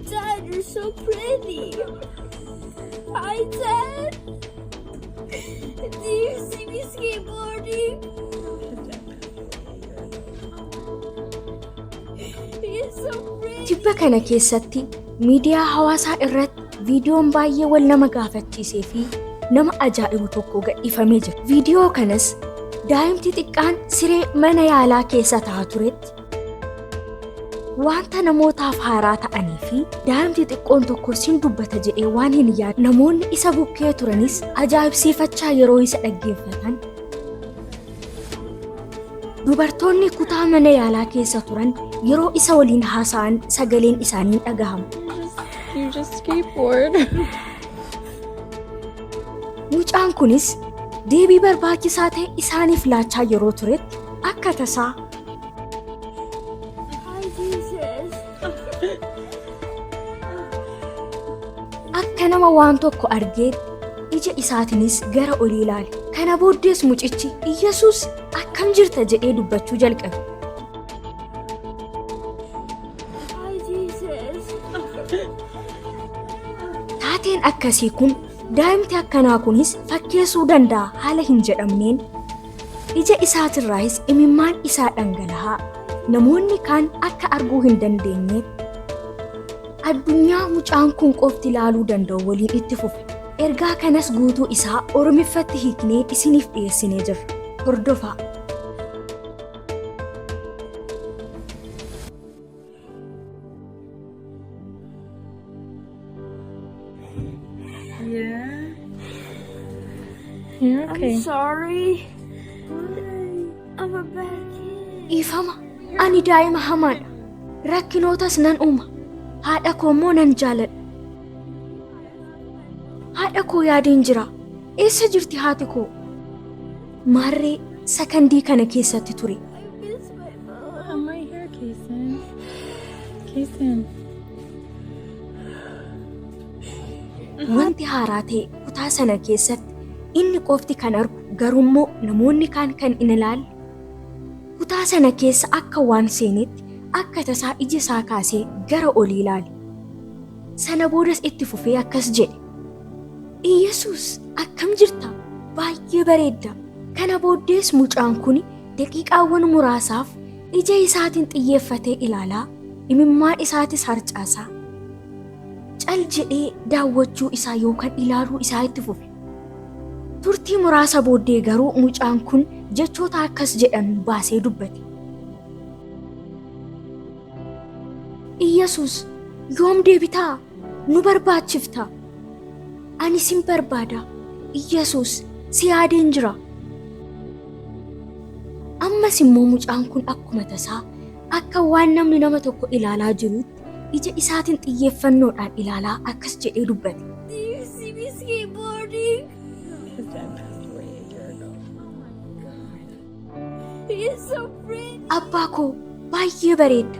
Dad, you're so pretty. Hi, Dad. Do you see me skateboarding? You're so pretty. Tibba kana keessatti miidiyaa hawaasaa irratti viidiyoon baay'ee wal nama gaafachiisee fi nama ajaa'ibu tokko gadhiifamee jira. Viidiyoo kanas daa'imti xiqqaan siree mana yaalaa keessa taa'aa turetti Wanta namootaaf haaraa ta'anii fi daa'imti xiqqoon tokko sin dubbata jedhee waan hin yaadne namoonni isa bukkee turanis ajaa'ibsiifachaa yeroo isa dhaggeeffatan dubartoonni kutaa mana yaalaa keessa turan yeroo isa waliin haasa'an sagaleen isaanii dhagahama. You just skateboard. Mucaan kunis deebii barbaachisaa ta'e isaaniif laachaa yeroo turetti akka tasaa Akka nama waan tokko argeetti ija isaatiinis gara olii ilaale. Kana booddees mucichi Iyyasuus akkam jirta jedhee dubbachuu jalqabe. Taateen akkasii kun daa'imti akkanaa kunis fakkeessuu danda'a haala hin jedhamneen Ija isaatirraahis imimmaan isaa dhangalahaa namoonni kaan akka arguu hin dandeenyeetti addunyaa mucaan kun qofti ilaaluu danda'u waliin itti fufe. Ergaa kanas guutuu isaa Oromiffatti hiiknee isiniif dhiyeessinee jirra. Hordofaa! Yeah. Yeah, okay. I'm sorry. I'm a bad kid. Dhiifama. Ani daa'ima hamaadha. Rakkinootas nan uuma. Haadha koo immoo nan jaaladha. Haadha koo yaadeen jira. Eessa jirti haati koo? Maarree sakandii kana keessatti ture. I'm right here, Kason. Kason. Wanti haaraa ta'e kutaa sana keessatti inni qofti kan argu garuummoo namoonni kaan kan hin ilaalle. Kutaa sana keessa akka waan seenetti akka tasaa ija isaa kaasee gara olii ilaale. Sana boodas itti fufee akkas jedhe. Iyyasuus akkam jirta? Baay'ee bareedda. Kana booddees mucaan kun Daqiiqaawwan muraasaaf ija isaatiin xiyyeeffatee ilaalaa, imimmaan isaatis harcaasaa. Cal jedhee daawwachuu isaa yookaan ilaaluu isaa itti fufe. Turtii muraasa booddee garuu mucaan kun jechoota akkas jedhan baasee dubbate. Iyyasuus, yoom deebitaa? Nu barbaachifta. Ani sin barbaada. Iyyasuus, si yaadeen jira. Ammas immoo mucaan kun akkuma tasaa akka waan namni nama tokko ilaalaa jiruutti ija isaatiin xiyyeeffannoodhaan ilaalaa akkas jedhee dubbate. Abbaa koo baay'ee bareedda.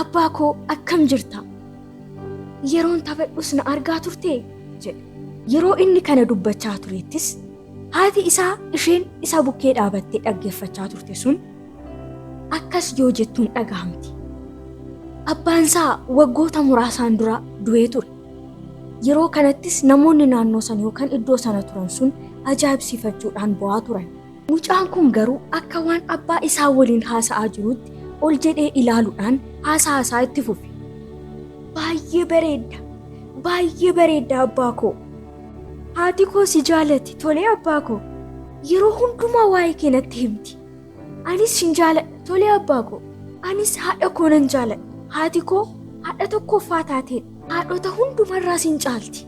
Abbaa koo akkam jirta? Yeroon taphadhus na argaa turtee? jedhe. Yeroo inni kana dubbachaa turettis Haati isaa isheen isa bukkee dhaabattee dhaggeeffachaa turte sun akkas yoo jettuun dhagahamti. Abbaan isaa waggoota muraasaan dura du'ee ture. Yeroo kanattis namoonni naannoo sana yookaan iddoo sana turan sun ajaa'ibsiifachuudhaan bo'aa turan. Mucaan kun garuu akka waan abbaa isaa waliin haasa'aa jirutti ol jedhee ilaaluudhaan haasaa isaa itti fufe. Baay'ee bareedda! Baay'ee bareedda abbaa koo! Haati koo si jaalatti tolee abbaa koo yeroo hundumaa waa'ee kee natti himti. Anis sin jaaladha tolee abbaa koo anis haadha koo nan jaaladha. Haati koo haadha tokkoffaa taateedha. Haadhota hundumarraa sin caalti.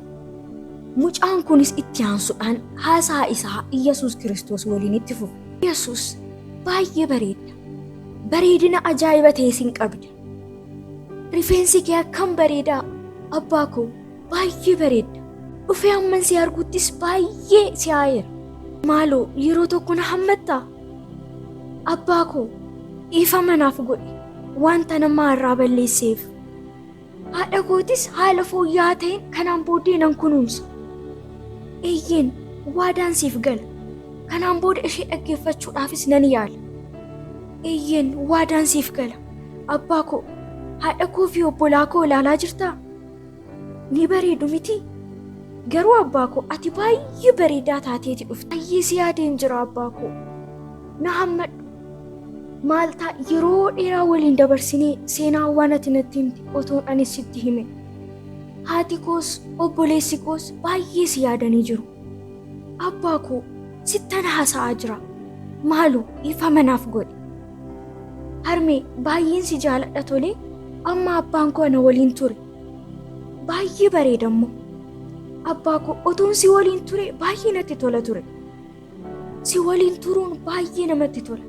Mucaan kunis itti aansuudhaan haasaa isaa Iyyasuus Kiristoos waliin itti fufe. Iyyasuus baay'ee bareedda. Bareedina ajaa'iba ta'e sin qabda. Rifeensi kee akkam bareedaa abbaa koo baay'ee bareedda. Dhufee hamman si arguuttis baay'ee si haayeera. Maaloo yeroo tokko na hammattaa? Abbaa koo dhiifama naaf godhi wanta namaa irraa balleesseef. Haadha kootis haala fooyya'aa ta'een kanaan booddee nan kunuunsa. Eeyyeen waadaan siif gala. Kanaan booda ishee dhaggeeffachuudhaafis nan yaala. Eeyyeen waadaan siif gala. Abbaa koo haadha koo fi obbolaa koo ilaalaa jirtaa? Ni bareedu miti? Garuu abbaa koo ati baay'ee bareedaa taateeti dhufte. Baay'ee si yaadeen jira abbaa koo. Na hammadhu. Maal ta'a yeroo dheeraa waliin dabarsinee seenaawwan ati natti himte otoon ani sitti hime. Haati koos obboleessi koos baay'ee si yaadanii jiru. Abbaa koo sittan haasa'aa jira. Maaloo dhiifama naaf godhi. Harmee baay'een si jaaladha tolee amma abbaan koo ana waliin ture. Baay'ee bareeda immoo. Abbaa koo otoon si waliin ture baay'ee natti tola ture. Si waliin turuun baay'ee namatti tola.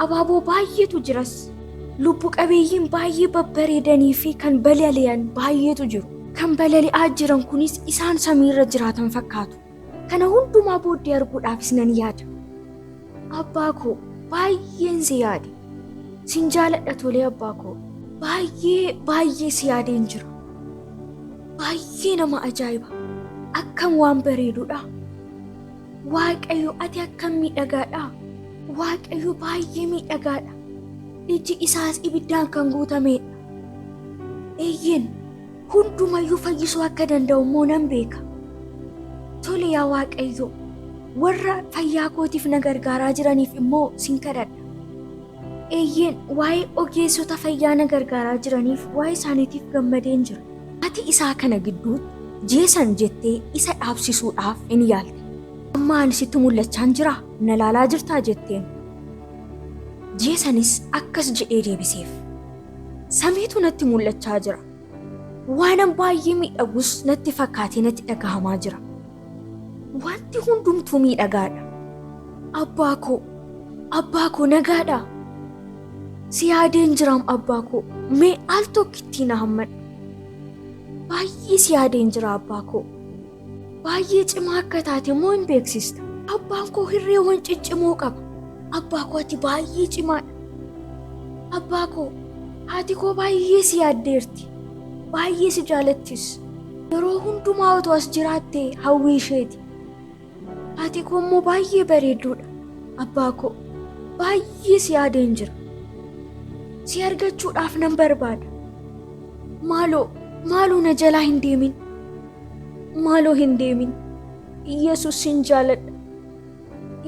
Abaaboo baay'eetu jiras. Lubbu qabeeyyiin baay'ee babbareedanii fi kan balali'an baay'eetu jiru. Kan balali'aa jiran kunis isaan samiirra jiraatan fakkaatu. Kana hundumaa booddee arguudhaafis nan yaada. Abbaa koo baay'een si yaade. Sin jaaladha tolee abbaa koo. Baay'ee baay'ee si yaadeen jira. Baay'ee nama ajaa'iba. Akkam waan bareedudha. Waaqayyo ati akkam miidhagaadha. Waaqayyo baay'ee miidhagaadha. Iji isaas ibiddaan kan guutameedha. Eeyyeen Hundumayyuu fayyisuu akka danda'u immoo nan beeka. Tole yaa Waaqayyo, warra fayyaa kootiif na gargaaraa jiraniif immoo sin kadhadha. Eeyyeen waa'ee ogeessota fayyaa na gargaaraa jiraniif waa'ee isaaniitiif gammadeen jira. Ati isaa kana gidduutti jeesan jettee isa dhaabsisuudhaaf in yaalte. Amma ani sitti mul'achaan jira, na laalaa jirtaa jetteen. Jeesanis akkas jedhee deebiseef. Samiitu natti mul'achaa jira. Waanan baay'ee miidhagus natti fakkaatee natti dhagahamaa jira. Wanti hundumtuu miidhagaadha. Abbaa koo, abbaa koo nagaadha. Si yaadeen jiraam abbaa koo, mee al tokkittii na hammadhu. Baay'ee si yaadeen jira abbaa koo. Baay'ee cimaa akka taate immoo hin beeksista. Abbaan koo hirreewwan ciccimoo qaba. Abbaa koo ati baay'ee cimaadha. Abbaa koo haati koo baay'ee si yaaddeerti. Baay'ee si jaalattis. Yeroo hundumaa otoo as jiraatte hawwii isheeti. Haati koo immoo baay'ee bareedduudha. Abbaa koo baay'ee si yaadeen jira. Si argachuudhaaf nan barbaada. Maaloo maaloo na jalaa hin deemin. Maaloo hin deemin. Yesus sin jaaladha.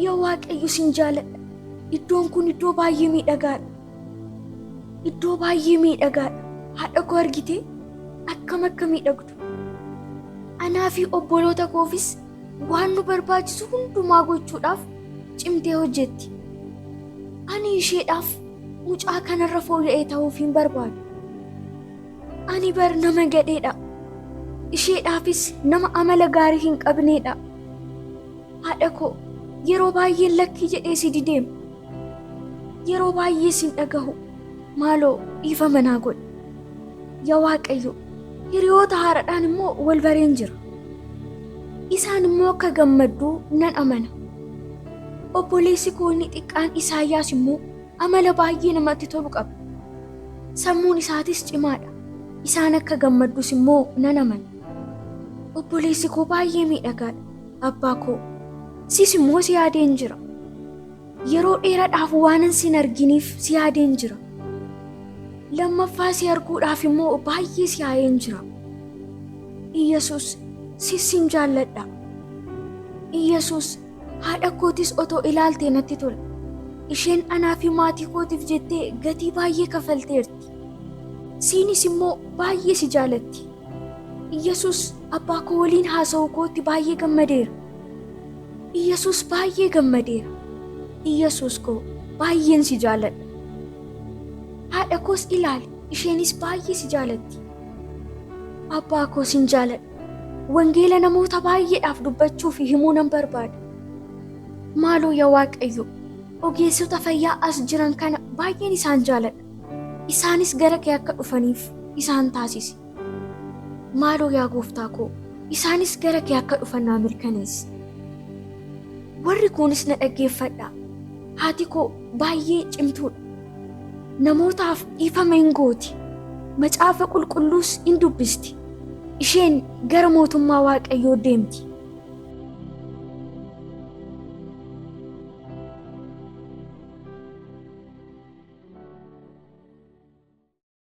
Yaa Waaqayyo sin jaaladha. Iddoon kun iddoo baay'ee miidhagaadha. Iddoo baay'ee miidhagaadha. Haadha koo argitee akkam akka miidhagdu. Anaa fi obboloota koofis waan nu barbaachisu hundumaa gochuudhaaf cimtee hojjetti. Ani isheedhaaf mucaa kanarra fooyya'ee ta'uuf hin barbaadu. Ani bar nama gadheedha. Isheedhaafis nama amala gaarii hin qabneedha. Haadha koo yeroo baay'ee lakkii jedhee si dideem. Yeroo baay'ee sin dhagahu. Maaloo dhiifama naa godhi. Yaa Waaqayyo hiriyoota haaraadhaan immoo wal bareen jira. Isaan immoo akka gammadduu nan amana. Obboleessi koo inni xiqqaan Isaayyaas immoo Amala baay'ee namatti tolu qaba. Sammuun isaatis cimaadha. Isaan akka gammaddus immoo nan amana. Obboleessi koo baay'ee miidhagaadha. Abbaa koo, sis immoo si yaadeen jira. Yeroo dheeraadhaaf waanan sin arginiif si yaadeen jira. Lammaffaa si arguudhaaf immoo baay'ee si yaa'een jira. Iyyasuus, sis sin jaalladha. Iyyasuus, Haadha kootis otoo ilaaltee natti tola. Isheen anaa fi maatii kootiif jettee gatii baay'ee kafalteerti. Siinis immoo baay'ee si jaalatti. Iyyasuus abbaa koo waliin haasa'uu kootti baay'ee gammadeera. Iyyasuus baay'ee gammadeera. Iyyasuus koo baay'een si jaaladha. Haadha koos ilaali, isheenis baay'ee si jaalatti. Abbaa koo sin jaaladha. Wangeela namoota baay'eedhaaf dubbachuu fi himuu nan barbaada. Maaloo yaa Waaqayyo, ogeessota fayyaa as jiran kana baay'een isaan jaaladha. Isaanis gara kee akka dhufaniif isaan taasisi. Maaloo yaa gooftaa koo, isaanis gara kee akka dhufan naa mirkaneessi. Warri kuunis na dhaggeeffadhaa. Haati koo baay'ee cimtuudha. Namootaaf dhiifama in gooti, Macaafa Qulqulluus in dubbisti, isheen gara mootummaa Waaqayyoo deemti.